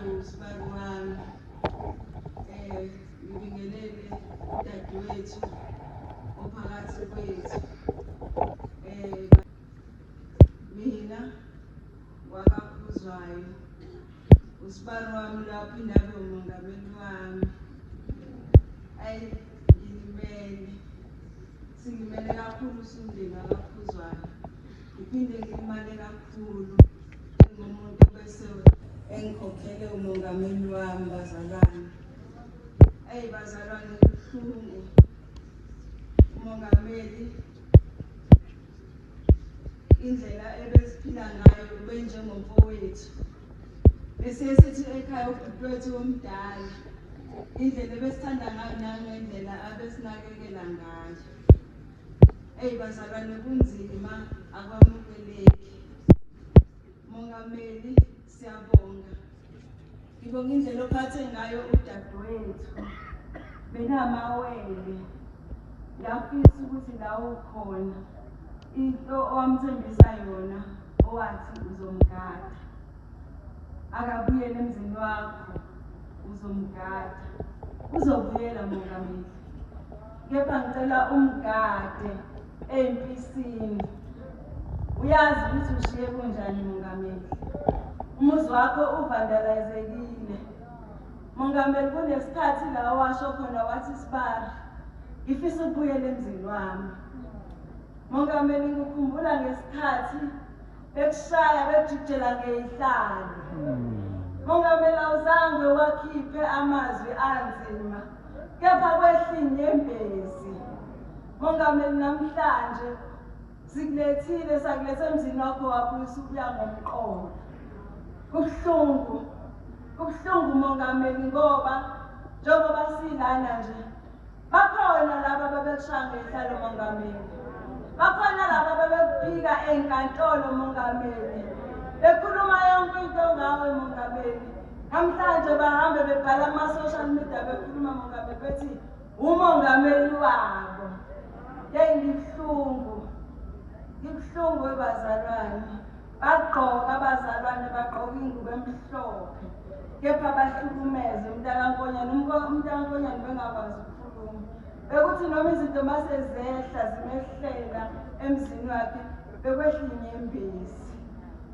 Sibani wami eh ngibingelele udadewethu ophakathi kwethu eh mina wakakhuzwayo usibani wami lapho indabe umongameli wami ayi ngilimele singimele kakhulu usundima kakhuzwayo Ngiphinde ngilimale kakhulu engumuntu bese engikhokhele umongameli wami bazalwane. Eyi bazalwane kubuhlungu umongameli indlela ebesiphila ngayo kube njengomfowethu besiye sithi ekhaya ubhuti wethu omdala indlela ebesithanda ngayo nangendlela abesinakekela ngayo Eyi bazalwane kunzima akwamukeleki. Mongameli siyabonga. Ngibonga indlela ophathe ngayo udadewethu. Benamawele. Ngiyafisa ukuthi la ukhona into owamthembisa yona owathi uzomgada. Akabuyele emzini wakho uzomgada. Uzobuyela mongameli. Kepha ngicela umgade empisini. Uyazi ukuthi ushiye kunjani mongameli. Umuzi wakho uvandalizekile. Mongameli kunesikhathi la washo khona wathi sibari. Ngifisa ukubuyela emzini wami. Mongameli ngikhumbula ngesikhathi bekushaya bekujijela ngeyihlalo. Hmm. Mongameli awuzange wakhiphe amazwi anzima. kepha kwehlinyembezi mongameli namhlanje sikulethile sakuletha emzini wakho wabuyisa ukuya ngomqondo kubuhlungu kubuhlungu mongameli ngoba njengoba silana nje bakhona laba babekushaya ngehlalo mongameli bakhona laba babekuphika ey'nkantolo mongameli bekhuluma yonke into ngawe mongameli Namhlanje bahambe bebhala ama-social media bekhuluma mongameli bethi umongameli wabo. Yeyi ngibuhlungu, ngibuhlungu webazalwane. Bagqoka abazalwane bagqoka ingubo emhlophe kepha bahlukumeze umntakankonyana umntakankonyana bengakwazi ukukhuluma bekuthi noma izinto mase zehla zimehlela emzini wakhe bekwehla inyembezi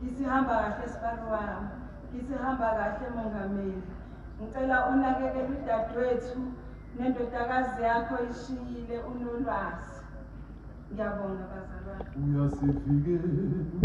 ngisihamba kahle sibari wami Isihamba kahle Mongameli. Ngicela unakekele udadewethu nendodakazi yakho ishiyile unolwazi. Ngiyabonga bazalwane. Uyasivikela.